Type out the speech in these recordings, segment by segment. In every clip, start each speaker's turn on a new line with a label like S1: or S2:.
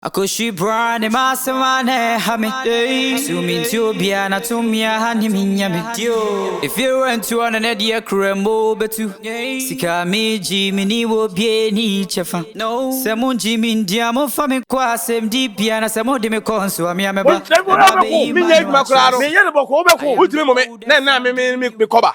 S1: Akɔhwi bra ne m'asɛm a na ɛha me So mentie obiara na tumi a ha ne menya me Efie rɛntu ɔno ne deɛ kura mu bɛtu Sika a megye meni wɔ obiara ni kyɛfa Sɛ mongye me ndi a momfa me nkɔ asɛmdibea Na sɛ mode me kɔ nso a me a mɛba Ɛno
S2: abɛyi ma no akyerɛ sɛ.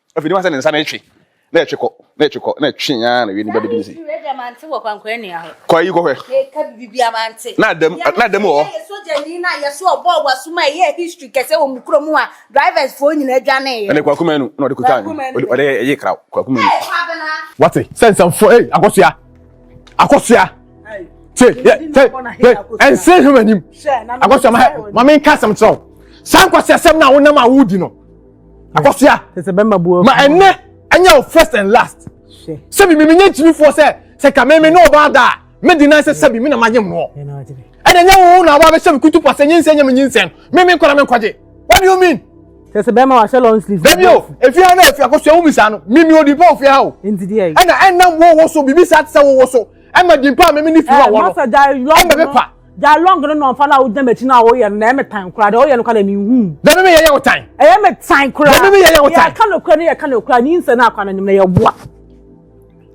S2: Afei ne wa sɛ ne nsa na ɛtwe na ɛtwe kɔ na ɛtwe kɔ na ɛtwe yaa na wie ne ba bɛdi ne se.
S3: Kɔ ayi kɔ hwɛ. Na adam
S2: na
S3: adam wɔ. Ɛne kwaku manu na ɔde
S2: kuta anyo ɔde ɛyɛ kraw kwaku manu. Wate
S4: sɛ nsɛmfoɔ ei akɔsoa akɔsoa te yɛ te yɛ ɛnse hwɛ w'anim akɔsoa ma ma menka asɛm kyerɛ wo saa nkwasi asɛm no a wonam a wodi no akɔsoa ma
S5: ɛnɛ ɛnyɛ
S4: wo first and last sɛbi mi mi nye nkyimifoɔ sɛ sɛ kame mi ne ɔbaa da a mi di nan sɛ sɛbi mi na ma nye mu hɔ ɛna nye wo na ɔbaa bɛ sɛbi kutu pɔ sɛ nye nsɛn nye mi nye nsɛn mi mi nkɔla mi nkɔgye what do you mean. sɛsɛ bɛrima wa hyɛ
S5: long sleeve. bɛbi o efi ha na efi
S4: akɔsua wo bisa no mi mi o di pa ofi ha o. nti di yɛ yi. ɛna ɛnam
S5: wo wo so
S4: bibi sa ti sɛ wo wo so ɛma di pa mi mi ni fi wa wɔ no ɛma bɛ pa.
S5: Gya long no nɔnfa no a wogyina m'akyi no a woyɛ no na ɛyɛ me tan koraa deɛ woyɛ no koraa deɛ menhu. Dɛm me yɛyɛ wo tan.
S4: Ɛyɛ me tan koraa.
S5: Dɛm me yɛyɛ wo tan. Yɛka no
S4: koraa ne yɛka no
S5: koraa ne nsɛ no akwa no anim na yɛboa.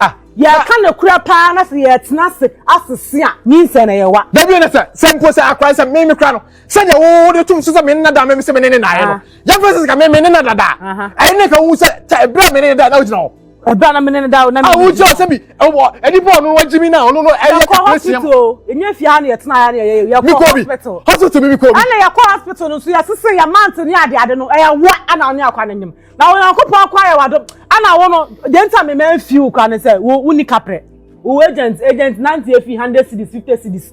S5: Ah. Yɛka no koraa paa na sɛ yɛtena ase asese a ne nsɛ na yɛwa. Dɛm yɛ na sɛ sɛ mpo
S4: sɛ akora sɛ me me kora no sɛdeɛ wo de tom so sɛ me ne nada me sɛ me ne ne naeɛ no yɛmfa sɛ sika me me ne nada daa ɛyɛ ne ka wo sɛ ɛberɛ a me ne ne daa na wogyina hɔ ɛbra na mene no da
S5: o na mene no di o. awo sɛbi ɛwɔ
S4: nipa ɔno wa jimi na ɔno no ɛyɛ kakra si ɛmu. yɛkɔ hospital
S5: enye fi ha na yɛtena ha na yɛyɛ yɛkɔ hospital. hospital mi mi kɔ bi. ɛna
S4: yɛkɔ hospital no nso
S5: yɛsese yɛ mante ne ade ade no ɛyɛ wa ɛna ɔne akwa ne nyim na wɔn akɔpɔ akɔ ayɛ wa do ɛna wɔn no deɛ nta mi mɛ nfi wo kora ne sɛ wo wo ni kaprɛ wo agent agent nante efi hundred cities fifty cities.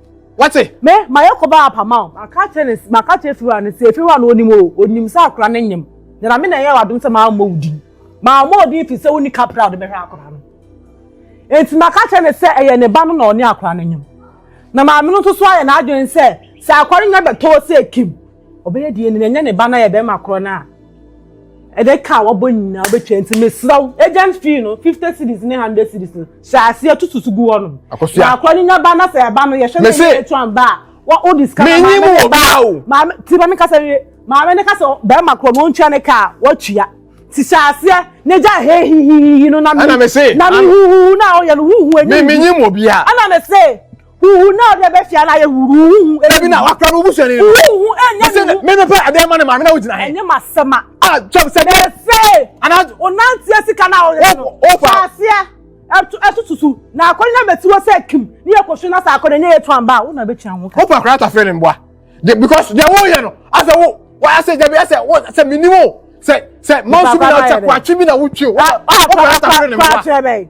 S5: Wate?
S4: Me, mayɛ
S5: kɔba apama o. Maka akyerɛ ne, maka akyerɛ Fiwura no sɛ efi hɔ a na onim o, onim sɛ akora no nyem. Nyame na ɛyɛɛ w'adom sɛ mammɔ wo din. Mammɔ wo din efisɛ wonni kapra a wode bɛhwɛ akora no. Enti maka akyerɛ no sɛ ɛyɛ ne ba no na ɔne akora no nyem. Na maame no nso so ayɛ n'adwene sɛ sɛ akora no nya bɛtɔ hɔ sɛ ekim, ɔbɛyɛ DNA na ɛnyɛ ne ba no ayɛ bɛrima korɔ no a ɛde ka a wabɔ nyinaa wobɛtua. Enti mesrɛ wo, agent fee no, fifty cedis ne hundred cedis no, hyɛ aseɛ tututu gu hɔ nom na akora no nya ba na sɛ ɛba no yɛhwɛ no yɛ etu anba a wa o di sika na maame ne ba
S4: maame ti maame kasa
S5: wie maame ne kasa bɛrima korɔ na ɔntua ne kaa watua ti hyɛ aseɛ ne gya he hihihihi no na mi na mi huhuhu
S4: na
S5: ɔyɛ no huhu enyi mi mi nyi mu obi a ɛna
S4: mi se.
S5: Huhu na ɔde bɛ fia na yɛ huhu huhu. Ebi na wakura no busu
S4: ni. Huhu ɛnyɛ ni. Sɛ
S5: mi mi pɛ adeɛ ma ne
S4: maame na o gyina he. Ɛnyɛ ma sɛma. A
S5: twɛm sɛ de.
S4: Efe. Ana.
S5: O nanteɛ
S4: sika
S5: na o yɛ no. O fa. Faaseɛ.
S4: Ɛtu ɛtu
S5: tutu. Na akɔni na mɛti wɔ sɛ kim. Ni yɛ kɔsu na sa akɔni ni yɛ tu anba. O na bɛ tia ho. O fa akora ta fɛ ne mbua.
S4: De because de wo yɛ no. Asɛ wo wa asɛ jabi asɛ wo asɛ mi ni wo. Sɛ sɛ mɔnsu mi na ɔtɛ kwatwi mi na wotwi o. O fa akora ta fɛ ne mbua.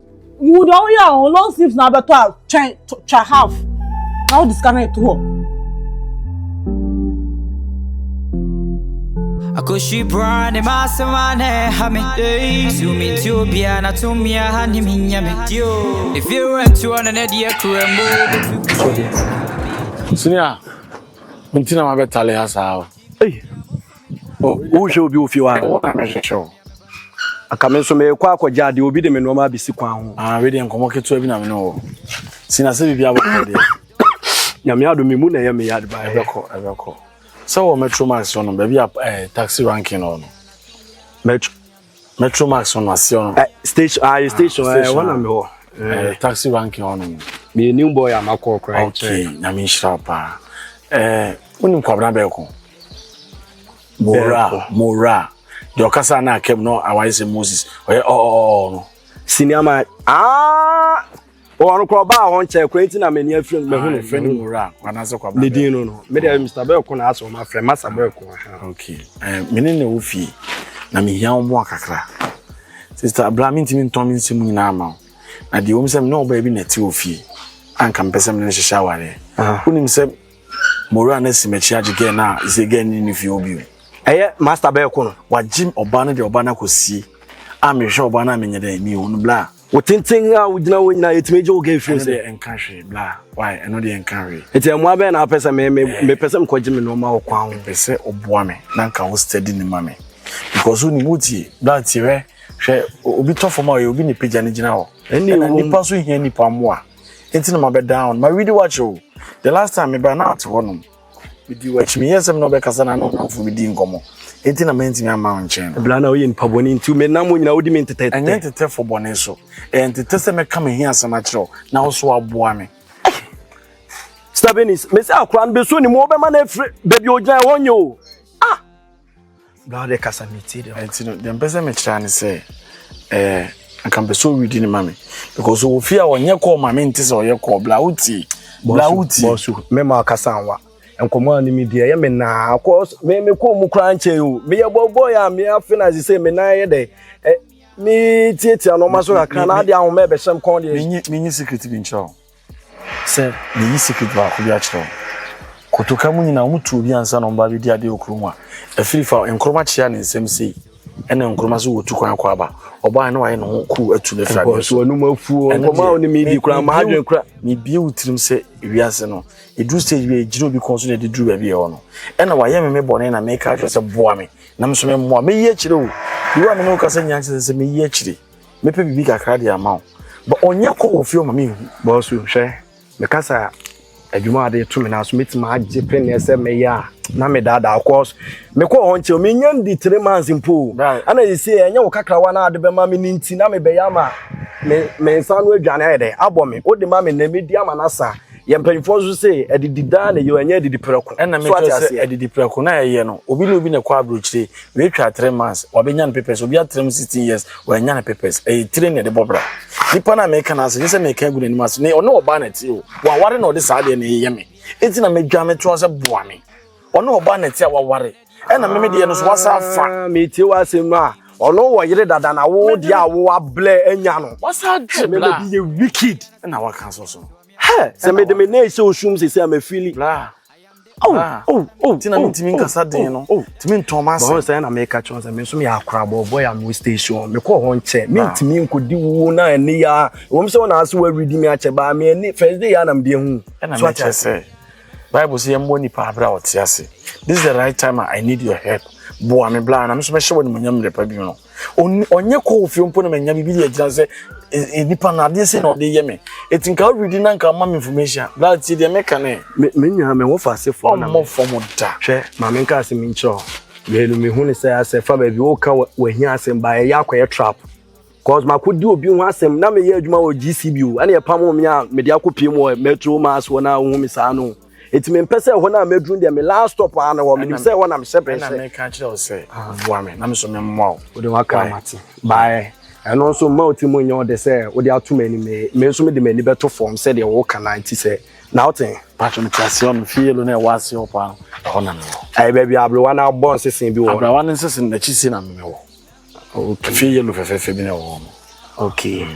S5: Wo deɛ woyɛ a wo long sleeves na abɛtɔ a twɛn twa half na wode sika no to hɔ.
S1: Akoshi bra ne masema na ɛha me Zoomi nti obia na tumi aha ne me nya me If you rent to on an idea kurembo
S2: Sini a, nti na mabɛtale ha saa o. Ei, o,
S6: wohwɛ obi wɔ fie hɔ a, wo na mehwehwɛ o. Anka me nso merekɔ akɔgye adeɛ, obi de me nnoɔma abɛsi kwan ho. Ah, wei deɛ nkɔmmɔ ketewa bi na
S2: me ne wɔ. Si na sɛ biribi abɛkɔ deɛ. Nyame
S6: adom me mu na ɛyɛ me ya de baeɛ. Ɛbɛkɔ, ɛbɛkɔ.
S2: Sɛ wɔ Metro Max hɔ no, baabi a eh, taxi ranking hɔ no. Metro. Metro Max wọn ase ɔno. Ɛ eh, station ah, ayi station
S6: ɛ eh, wɔn na mi hɔ. Ɛ eh, taxi ranking
S2: ɔno. Mi yɛ new boy a
S6: ma kɔ ɔkura yɛ kyerɛ. Ok nyame nhyira
S2: wo paa. Ɛ wɔn ni nkwabena bɛɛ ko. Mora mora deɛ ɔkasa na akɛm no awaye sɛ Moses ɔyɛ ɔɔɔɔ no. Senior man
S6: aa ah, Wɔn kɔ ɔbaa wɔn kyɛ kwan ti na m'ani afiri no mɛhu no. Fɛ ne mu wura kɔ anaasɛ
S2: kɔ abena. Ne din no no. Me deɛ
S6: Mr. Bɛɛ ko na asɛ wɔn afrɛ masa bɛɛ ko. Ok.
S2: Me ne na ɛwɔ fie na mehia wɔn mmoa kakra. Sista Abla mentumi ntɔn me nsɛm nyinaa ma wo. Na deɛ wɔm sɛ me ne ɔbaa bi na ɛte wɔ fie. Anka mepɛ sɛ me ne no hyehyɛ awareɛ. Wonim sɛ mowura no asi m'akyi agye gɛɛ no a ɛsɛ gɛɛ no ne fie hɔ bio. Ɛyɛ Masta Bɛɛ
S6: ko no. Wagye ɔbaa no de
S2: ɔbaa no akɔsie a mehwɛ ɔbaa no a menyɛ dɛn mehu no blaa. Wo tenten a wogyina
S6: hɔ nyinaa yɛtumi gye wo ka ɛfiri sɛ. Ɛno deɛ nka hwee bla
S2: why ɛno deɛ nka hwee. Nti mmoa bɛn na apɛ
S6: sɛ me me eh. mepɛ sɛ mekɔgye me nneɛma wɔ kwan ho. Mepɛ sɛ ɔboa me
S2: na nka wo steady ne ma me because wonim wotie bla tie hwɛ hwɛ obi tɔ fam a ɔyɛ obi ne pagya no gyina hɔ ɛna nipa nso hia nipa mmoa nti na mabɛ down ma ready watch o the last time meba na ate hɔ nom. Medii w'akyi, meyɛɛ sɛ me ne wo bɛkasa na ne wo nnamfo bedi nkɔmmɔ, enti na mantumi amma wo nkyɛn no. Bere a na woyɛ nipa bɔne
S6: nti, menam wo nyinaa wodi me ntetɛ. Ɛnyɛ ntetɛ fɔ bɔne
S2: so. Ɛyɛ ntetɛ sɛ mɛka m'ahiasɛm akyerɛ wo na wo nso woaboa me. Stephanie,
S6: mise akwadaa no beso ne mu, wobɛma no afiri baabi a ogyinae hɔ nye o. Ah! bra wode kasa metie deɛ ɛnti no deɛ mpɛ sɛ mekyerɛ
S2: ne sɛ eh, nka mpɛ sɛ ɔredi ne ma me because ɔwɔ fie a ɔnyɛ kɔɔ ma mente sɛ ɔyɛ kɔɔ bla wotie bla wotie bɔsu
S6: mɛma akasa nwa nkɔmɔ a ne me di ɛyɛ me naa cause me me kɔɔ mu koraa nkyɛn o meyɛ bɔbɔ yɛ a me afe na sɛ me nan yɛ dɛ ɛ me
S2: tietia
S6: nɔɔma so kakra na ade
S2: ahoma
S6: ɛbɛhyɛm kɔn deɛ menyi secret bi nkyerɛ o
S2: Sɛ meyi secret baako bi akyerɛ wo. Kotoka mu nyinaa wɔn tu obi ansa na wɔn ba abɛdi adeɛ wɔ kurom a, ɛfiri fa Nkrumah kyea ne nsam sei ɛna Nkrumah so wɔtu kwan akɔ aba. Ɔbaa no ayɛ ne ho kuu atu no
S6: afiri adeɛ so. Ɛno deɛ, mebie wo tirim
S2: sɛ wiase no, ɛduru stage bi a ɛgyina obi kɔn so na ɛde duru baabi ɛwɔ no. Ɛna wayɛ me me bɔne na meka akyerɛ sɛ boa me na me nso memmoa. Mɛyi akyire wo. Owura me ne wo kasa nyinaa kyerɛ sɛ mɛyi akyire. mɛpɛ biribi kakra de ama wo but ɔnyɛ kɔ wɔ fie ɔma me nhu bɔsu hwɛ
S6: mekasa adwuma ade to me na so mɛtumi agye pɛneɛ sɛ mɛyɛ a na medaadaa cause mekɔ hɔ nkyɛ menya ndi three months mpo ana yɛsie ɛnyɛ wo kakrawa no ade bɛma me no nti na mebɛyɛ ama me nsa no adwane ayɛ dɛ abɔ me wode ma me nɛ mɛdi ama no asa Yɛn mpanyinfoɔ nso se adidi daa na ɛyɛ o, ɛnyɛ adidi prɛko. Ɛna me kyerɛ sɛ adidi
S2: prɛko na ɛyɛ no, obi ne obi na ɛkɔ aburokyire, wei twa three months, wabɛnya ne papers, obi atra mu sixteen years, wanya ne papers, ɛyɛ tire na ɛde bɔ bra. Nipa no a meka no ase, nyɛ sɛ meka agu n'anim ase, ne ɔne ɔbaa na ɛte o, waware na ɔde saa deɛ na ɛyɛ me. Eti na medwa me toa sɛ boa me. Ɔne ɔbaa na ɛte a waware. Ɛna me me deɛ no so wasa afa. Ah, metie w'asɛm a,
S6: ɔno wɔ yere dada na wo deɛ a wo ablɛ anya no. Wasa agye bla. Ɛna bi
S2: yɛ
S6: wicked. Ɛna waka so so.
S2: Hɛ, sɛ mede
S6: me nan hyɛ osum sese a mefili.
S2: Ti na mentumi nkasa den no, tumi ntɔn m'ase. Bɔn sɛ na meka kyerɛ sɛ
S6: me nso meyɛ akorabɔ bɔ yɛ mo station. Mekɔ hɔ nkyɛ, mentumi nkɔdi wuo na ɛne ya. Wɔm sɛ wɔn ase wɔawidi me akyɛ baa me ani first day ya na mede ahu. Ɛna mekyɛ sɛ.
S2: Bible se yɛmmɔ nipa aberɛ a ɔte ase. This is the right time I need your help. Boa me bla na me nso mɛhyɛ wɔ animonyam mmerɛ pa bi no. Ɔnyɛ kɔ wɔ fie mpo na manya biribi de agyina sɛ e, e, nipa no adeɛ sɛ na ɔde yɛ me. Ɛti nka wodidi na nka ma me information. Bla tie deɛ meka ne. Menya me ho fa
S6: ase fam na me. Ɔmmɔ fam da. Hwɛ,
S2: ma me nka ase
S6: me nkyerɛ wo. Mmienu mehu ne sɛ asɛ fa baabi woka wahia asɛm baa ɛyɛ akɔyɛ trap. Cause mako di obi ho asɛm na meyɛ adwuma wɔ GCB o ɛna ɛpamo me a mede akɔ piem wɔ Metro Mass hɔ na wohu me saa no eti mempɛ sɛ ɛhɔ no a mɛduru deɛ me last stop a na hɔ menim sɛ ɛhɔ na mehyɛ brɛ sɛ ɛna meka kyerɛ wo sɛ
S2: boa me na me so memmoa wo wode waka amate
S6: baɛ ɛno nso mma wo ti mu nyɛ ɔde sɛ wode ato m'ani me me nso mede m'ani bɛto fam sɛdeɛ woka na nti sɛ na wote patro mete aseɛ ɔno
S2: fie yɛlo na ɛwɔ aseɛ hɔ paa no ɛhɔ na mewɔ ɛyɛ baabi a aberewa
S6: no abɔ nsesen bi wɔ aberewa no nsesen n'akyi
S2: sie na mewɔ okay fie yellow fɛfɛɛfɛ bi na ɛwɔ hɔ okay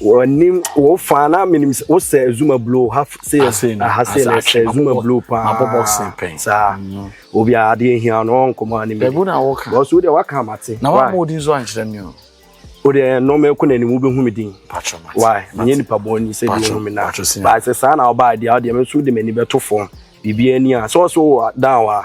S6: wɔnim wo fa na menim wo sɛ zuma blue ha se ha se na sɛ zuma blue paa ma bɔ boxing pɛn saa
S2: mm. obi
S6: a adeɛ hia no ɔnkɔmɔ anim bɛbu na wɔka wɔso wodeɛ waka
S2: amate
S6: na wɔn mo din so ankyerɛ
S2: mi o wodeɛ
S6: nɔɔma ɛkɔ n'anim wobɛhu me din why menyɛ
S2: nipa bɔn
S6: ni sɛ bi wɔn mi na baa sɛ saa na ɔbaa deɛ ɔdeɛ me nso de m'ani bɛto fam biribi ani a sɛ ɔso wɔ dan wa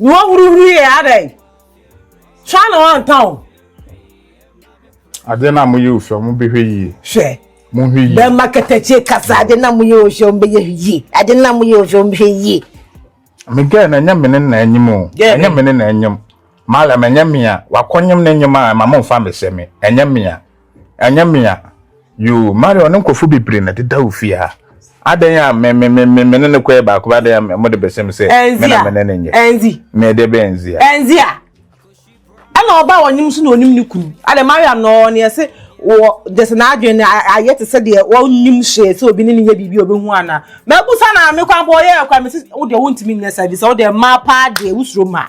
S5: Na ɔhuruhuruiɛ yɛ adɛn? Sua na wanta o.
S7: Adeɛ no a moyɛ osua, mobɛhwɛ yie. Hwɛ. Monhwɛ
S5: yie. Bɛma
S7: katakyie kasa
S5: adeɛ no a moyɛ osua, mobɛyɛ yie. Adeɛ no a moyɛ osua, mobɛhwɛ yie. Me gɛɛ
S7: no ɛnyɛ mene na anyim o. Ɛnyɛ mene na anyim. Mariam ɛnyɛ me a. Wakɔnyem ne nyem a ɛma momfa me sɛ me. Ɛnyɛ me a. Ɛnyɛ me a. Yoo, Marion ne nkurɔfo bebree na ɛdeda wo fie ha. Adɛn a me me me me ne no kɔ yɛ baako ba adɛn a mode bɛhyɛ me sɛ me na me ne no nyɛ. Ɛnzi. Me ɛdeɛ bɛn
S5: ɛnzi a.
S7: Ɛnzi a.
S5: Ɛna ɔbaa a ɔnim so na ɔnim ne kunu. Adɛn Marion na ɔwɔ neɛ se wɔ gyesɛ n'adwene no ayɛ te sɛ deɛ ɔnnim hwee sɛ obi ne no nyɛ biribi a ɔbɛhu anaa. Mabusa no a me kwan bɔ ɔyɛɛ kwan mese wo deɛ wontumi nyɛ saa bi sɛ wo deɛ mmaa paa deɛ wosuro mmaa.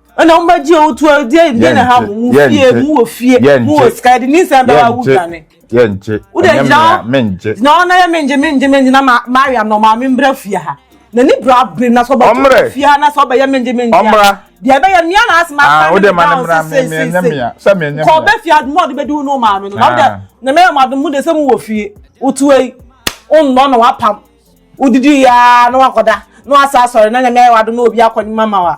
S7: ɛna
S5: wɔn bɛgye o tu ɛdi ɛdi na ha mu mu fie mu wɔ fie mu wɔ sika ɛdi ne nsɛm bɛba awu dwane. yɛ nkye
S7: ɛnyɛ mmea me nkye. gyina hɔ na yɛ me nkye
S5: me nkye me nkye na ma ma ayɛ anɔ maa mi mbra fie ha na ni bra bere na sɔ bɛ tu fie ha na sɔ bɛ yɛ me nkye me nkye ya deɛ bɛ
S7: yɛ mmea na asoma
S5: ah, asoma ne ba ɔsɛ sɛ
S7: sɛ sɛ kɔ bɛ fie adumu ɔde bɛ
S5: di wunu maa mi no na ɔdɛ ah. na mɛ yɛ mo adumu de sɛ mo wɔ fie otu eyi ɔnnɔ na wapam odidi yaa na wakɔda na wasa asɔre na nyɛ mɛ yɛ wado na obi akɔ ne mama wa.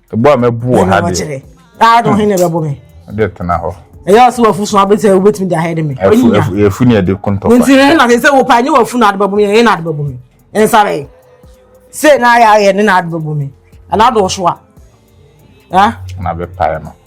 S5: ɛbɔ
S7: a mɛbu wɔ ha deɛ daa de ɔhe na ɛbɛbɔ
S5: me ɛde tena hɔ
S7: ɛyɛ ɔsɛ wafu so
S5: abɛsɛ wobɛtumi de ahɛde me ɛfu ne ɛde
S7: kontɔfa nti ne na sɛ wo
S5: paa nyɛ wafu na ade bɛbɔ me ɛyɛ na ade bɛbɔ me ɛnsa bɛyɛ sɛ na ayɛ ayɛ ne na ade bɛbɔ me ɛna adɔɔso a na bɛpae
S7: no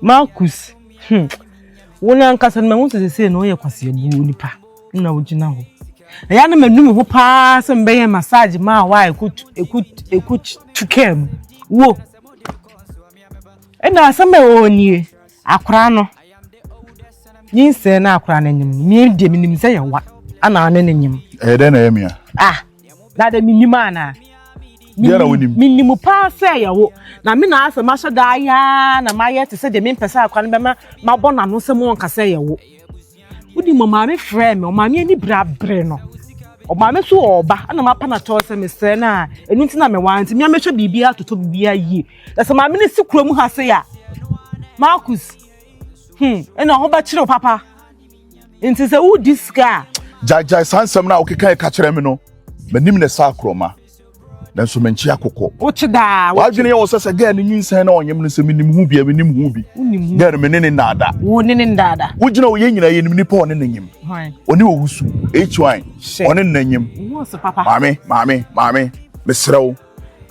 S2: Marcus,
S5: hmm, wo no ankasa no mahu sɛ sesei no woyɛ kwaseabu onipa na wogyina hɔ. Ɛyɛ a na manu me ho paa sɛ mebɛyɛ massage maa wo a ɛkɔtu kaa mu. Wo! Ɛna asɛm a ɛwɔ hɔ nie, akora no, nyinsɛn na akora no nyem no, me deɛ menim sɛ yɛwa ana ne no nyem. Ɛyɛ dɛn na ɛyɛ me a?
S2: Ah! na dɛ
S5: mennim anaa? Deɛ na wonim. Mennim paa sɛ yɛ wo. Na me na asɛ mahyɛ da ayɛ ara na mayɛ te sɛ deɛ mempɛ sɛ akwa no bɛma mabɔ n'ano sɛ monka sɛ yɛ wo. Wonim ɔmaame frɛɛ me, ɔmaame ani bere abere no. Ɔmaame so ɔɔba, ɛna mapa na tɔɔ sɛ mesrɛ no a, ɛno nti na mewaa nti mea mɛhwɛ biribiara atotɔ biribiara yie. Na sɛ maame no si kurom ha sei a, Marcus, hmm, ɛna ho bɛkyere wo papa. nti sɛ wodi sika a. gyaegyae saa nsɛm
S2: no a wokeka ɛka kyerɛ me no m'anim na ɛsa akorɔma nanso menkye akokɔ wokye daa
S5: wadwene yɛ wɔ sɛ sɛ
S2: gɛɛ no nyinsɛn na ɔnyem no sɛ menim ho bi a menim ho bi gɛɛ no mene ne nnaada wo ne ne nnaada
S5: wogyina ɔyɛ nyina yɛnim
S2: nipa ɔne ne nyem ɔne ɔwusu hy ɔne ne nyem maame
S5: maame maame
S2: meserɛ wo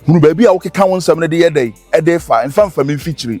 S2: hunu baabi a wokeka wo nsɛm no de yɛ dɛn ɛde fa mfa mfa me mfikyiri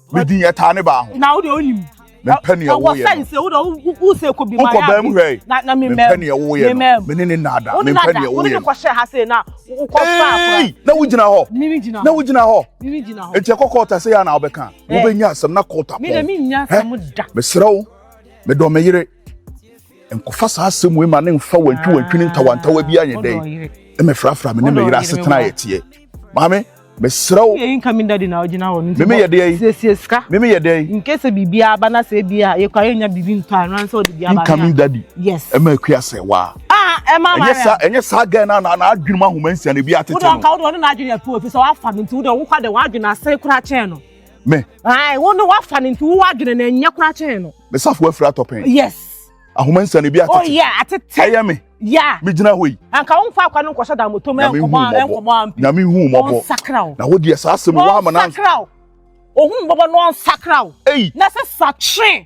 S5: me
S2: din yɛ taa
S5: ne baa
S2: ho. na wo deɛ wonim
S8: mempɛ neɛ woyɛ no sɛ wode wosɛ
S5: kɔbi ma wokɔ baa mu hwɛ na
S8: mempɛ neɛ woyɛ
S5: no
S8: mene ne naada mempɛ neɛ woyɛ no kɔhyɛ ha sei na
S5: wokɔfaa na wogyina
S8: hɔ na wogyina hɔ nti ɛkɔ kɔɔta sɛ yɛ na wobɛka wobɛnya asɛm na kɔɔta pɔn
S5: mesrɛ wo
S8: medɔ me yere nkɔfa saa asɛm wei ma ne nfa wantwi wantwi ne ntawantawa bi anyɛ dɛn mmɛfrafra me ne me yere asetena a yɛteɛ maame mesrɛ wo yɛyi nka me dade na
S5: ɔgyina hɔ no nti meme yɛ deɛ yi siesie
S8: sika meme yɛ deɛ
S5: yi nke
S8: sɛ biribi aba na
S5: sɛ ebi a yɛkɔ ayɛ nya biribi ntɔ a no ansɛ ɔde bi aba nka me dade yes
S2: ɛma akua
S5: sɛ waa
S2: ah ɛma ama ɛnyɛ
S5: saa ɛnyɛ saa gɛn na na
S2: na adwene mu ahoma nsia na ebi atete no wodɔ nka wodɔ ne na adwene yɛ pɔ
S5: ofi sɛ wafa me nti wodɔ wokɔ de wadwene asɛe koraa kyɛn no Me. Ae,
S2: wo no wafa
S5: no nti wo adwene no ɛnyɛ koraa kyɛn no. Me safo afiri atɔpɛn.
S2: Yes.
S5: Ahoma nsa no ebi
S2: atete. Oh yeah, atete. Ɛyɛ
S5: me. Yeah.
S2: Me gyina hɔ yi.
S5: Anka
S2: wo mfa akwa no nkɔhyɛ
S5: dan motom ɛnkɔbɔ ɛnkɔbɔ ampi. Nyame hu mɔbɔ. Wɔn
S2: sakra o. Na wo deɛ saa asɛm wɔn ama na. Wɔn sakra o.
S5: Ohun mɔbɔ na wɔn sakra o. Ei. Na sɛ sa tren.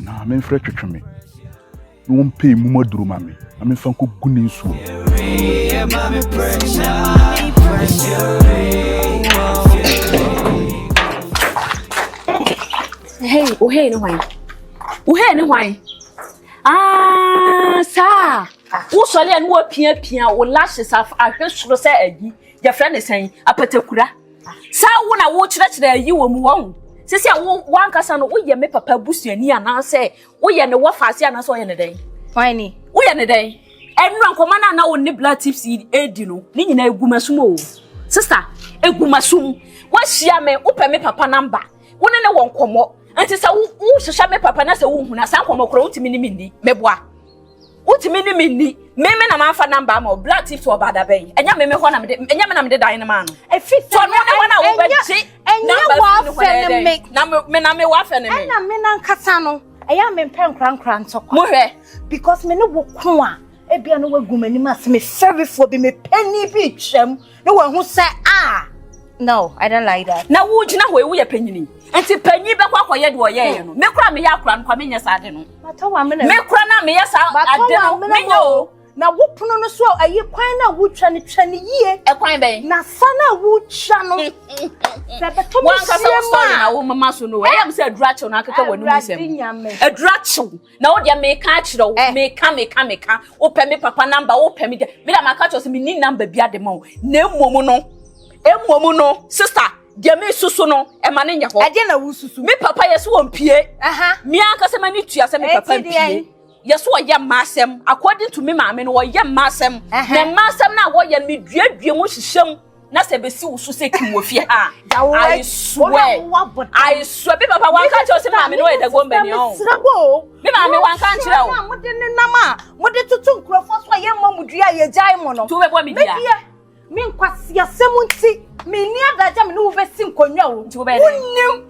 S2: na memfrɛ twetwe me na wɔmpɛ mmum aduro ma me na memfa nkɔgu ne nsuo Hey,
S3: uhei ne hwan? Uhei ne hwan? Ah, saa. Wosɔre a ne woapiapia wo lashes ahwɛ soro sɛ adi. Yɛfrɛ ne sɛn? Apatakura. Saa wo na wo kyerɛkyerɛ yi wɔ mu wɔn. Sisi a wo wankasa no woyɛ me papa busuani anaasɛ woyɛ ne wɔfa ase anaasɛ ɔyɛ ne dɛn? Why ni? Woyɛ ne
S9: dɛn?
S3: Ɛnura nkɔmɔ na na wo ne black tips yi edi no ne nyinaa egu masum o. Sista, egu masum. Wahyia me, wopɛ me papa namba. Wo ne ne wɔ nkɔmɔ. Nti sɛ wo hwehwɛ me papa na sɛ wo huna saa nkɔmɔ kora wontumi ne me ni. Meboa. Wotumi ne me nni. Me me na mafa number ama o. Black tips wɔ baada bɛn? Ɛnyɛ me me hɔ na me de ɛnyɛ me na me de dan no maa no. Efi sɛ so no ne hɔ na wo bɛ gye. Ɛnyɛ wafɛ ne me. Na me me na me wafɛ ne me. Ɛna me na nkasa no.
S9: Ɛyɛ me mpɛ nkura nkura ntɔkwa. Mo hwɛ. Because
S3: me ne wo
S9: ko a. Ebia no wagu m'anim ase me fɛrifoɔ bi me pɛni bi twam. na wahu sɛ a no i don't like that na wogyina hɔ ewu yɛ
S3: panyini nti panyin bɛkɔ akɔyɛ deɛ ɔyɛ yɛ no me kora meyɛ akora no kwa menyɛ saa ade no me kora na meyɛ saa ade no menyɛ o na wo pono no
S9: so ayi kwan na wotwa no twa no yie ɛkwan bɛn na
S3: sa na wotwa
S9: no sɛ bɛtɔ me hyia mu a na
S3: wo mama so no ɛyɛ m sɛ adura kyew na akeka w'anom nsɛm adura kyew Na wo deɛ meka akyerɛ wo eh. meka meka meka wopɛ me papa namba wopɛ me deɛ me deɛ maka kyerɛ sɛ menni namba bi ade ma wo na mmom no mmom no sista deɛ mesusu no ɛma ne nyɛ hɔ ɛdeɛ na wosusu me papa
S9: yɛ so wɔmpie
S3: me ankasa m'ani tua sɛ me papa mpie yɛ so ɔyɛ mma asɛm according to me maame no ɔyɛ mma asɛm na mma asɛm no a wɔyɛ no meduadua mu hyehyɛ mu na sɛ bɛsi wo so sɛ kim wɔ fie ha I swear I swear bi papa wanka kyerɛ sɛ maame no yɛ dɛ gomba ni ɔn bi maame wanka nkyerɛ o mode ne nam a
S9: mode toto nkurɔfoɔ so a yɛmmɔ mo dua a yɛgyae mo no to bɛbɔ me dua
S3: me
S9: nkwaseasɛm nti menni adagya me ne wo bɛsi nkonnwa o wonim